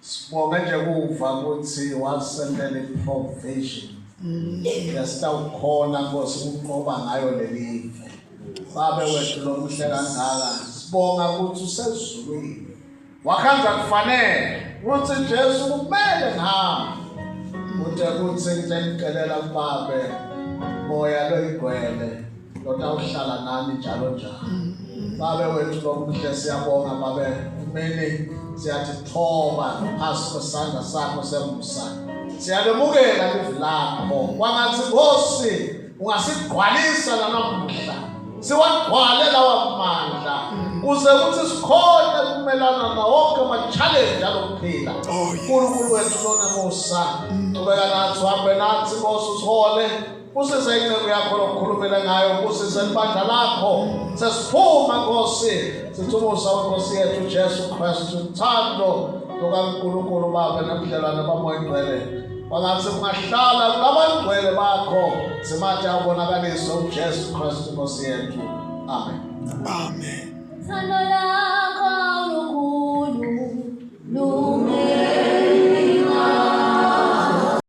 Sibonge nje kuva ukuthi wasendela iprovision. Yasitawukhona Nkosi ukunqoba ngayo lelive. Babe wethu lomuhle kangaka. Sibonga ukuthi usezulwini. Wakhanza kufanele ukuthi Jesu kumele ngihamba. Uthe kuthi ngicela kubabe moya loyigwele. lona uhlala nami njalo njalo babe wethu lomuhle siyabonga babe kumele siyathi thoba phansi kwesandla sakho sembusa siyalemukela livi lakho kwangathi nkosi ungasigqwalisa lanamuhla siwagqwale lawa mandla kuze kuthi sikhone kumelana nawonke ama-challenge alokuphila oh, nkulunkulu wethu lona musa qhubeka nathi uhambe nathi nkosi usihole Kusisa inceku yakho lokukhulumela ngayo, kusisa libandla lakho. Sesiphuma Nkosi, sithumusa uNkosi yethu Jesu Kristu, uthando lukaNkulunkulu Baba nobudlelwane bamoya ingcwele. Bangathi kungahlala kulabangcwele bakho, simathe abonakaliswe uJesu Kristu Nkosi yethu. Amen. Amen. Thando lakho lukhulu, lukhulu.